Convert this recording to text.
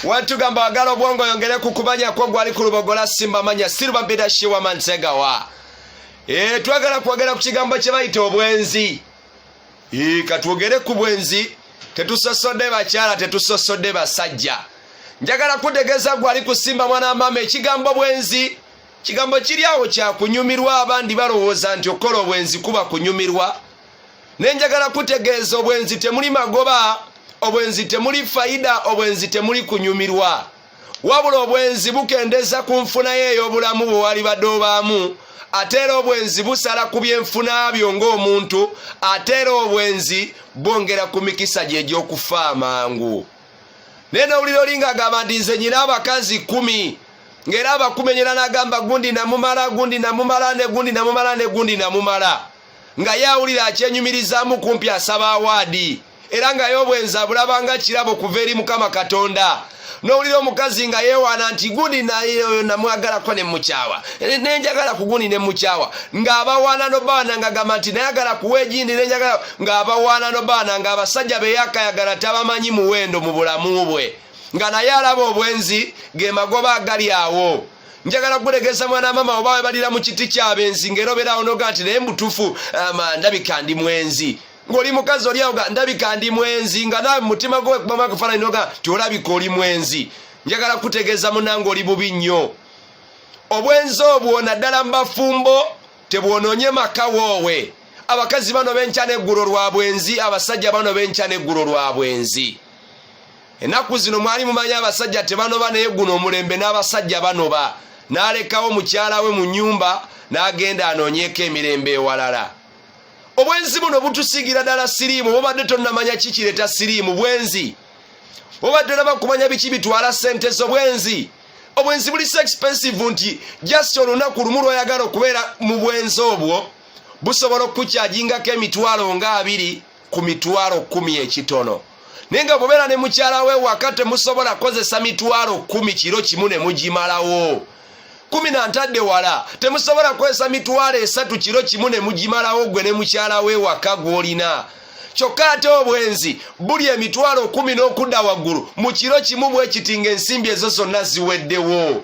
wantugamba wagala obwongo oyongere ku kumanya kwo gwali ku lubogola simba manya siruba bidashi wa mansegawa e, twagala kwogera ku kigambo kye bayita obwenzi e, katwogere ku bwenzi tetusosodde bakyala tetusosodde basajja njagala kutegeeza gwali kusimba mwana wamaama ekigambo bwenzi kigambo kiri awo kyakunyumirwa abandi balowooza nti okukola obwenzi kuba kunyumirwa ne njagala kutegeeza obwenzi temuli magoba obwenzi temuli fayida obwenzi temuli kunyumirwa wabula obwenzi bukendeza ku nfunayo ey'obulamu bwe wali badde obaamu ate era obwenzi busala ku byenfuna byo ng'omuntu ate era obwenzi bwongera ku mikisa gye egy'okufa amangu naye nowulira olinga agamba nti nze nyina abakazi kumi ng'era abakumenyera n'agamba gundi namumala gundi namumala ne gundi namumala ne gundi namumala nga yawulira akyenyumirizaamu kumpi asaba awaadi era nga y'obwenzi abulaba nga kirabo kuva eri mukama katonda nowulira omukazi nga yewaana nti gundi nayeoyo namwagalako nemukyawa nenjagala ku gundi nemukyawa ngaabawaana nobaana nga gamba nti nayagala kuwa egindi nenjagala ngaabawaana nobaana nga abasajja beyakayagala tabamanyi muwendo mu bulamu bwe nga naye alaba obwenzi ge magoba agali awo njagala kulegeza mwana mama oba webalira mu kiti kyabenzi ngaera obeerawo noga nti naye mutufu ama ndabika ndi mwenzi ngoli mukazi oli awo ga ndabika ndi mwenzi nga nawe mumutima gwo wekubamu akafaananyi noga nti olabika oli mwenzi njagala kutegeeza munange oli bubi nnyo obwenzi obwo naddala mu bafumbo tebwonoonye maka woowe abakazi bano benkya n'eggulo lwa bwenzi abasajja bano benkya n'eggulo lwa bwenzi ennaku zino mwali mumanyi abasajja tebanoba naye guno omulembe n'abasajja banoba n'alekawo mukyala we mu nyumba n'agenda anoonyeeko emirembe ewalala obwenzi buno butusigira ddala siriimu bobadde tonnamanya kikireeta siriimu bwenzi obadde olaba kumanya biki bitwala sente z'obwenzi obwenzi buli so expensive nti just olunaku lumu lwoyagala okubeera mu bwenzi obwo busobola okukukyajingako emitwalo nga abiri ku mitwalo kumi ekitono naye nga bubeera ne mukyala we waka temusobola kozesa mitwalo kumi kiro kimu ne mugimalawo kumi na ntadde wala temusobola kukozesa mitwalo esatu kiro kimu ne mugimalawo gwe ne mukyala we waka gw'olina kyokka ate obwenzi buli emitwalo kumi n'okudda waggulu mu kiro kimu bwe kiti ng'ensimbi ezo zonna ziweddewo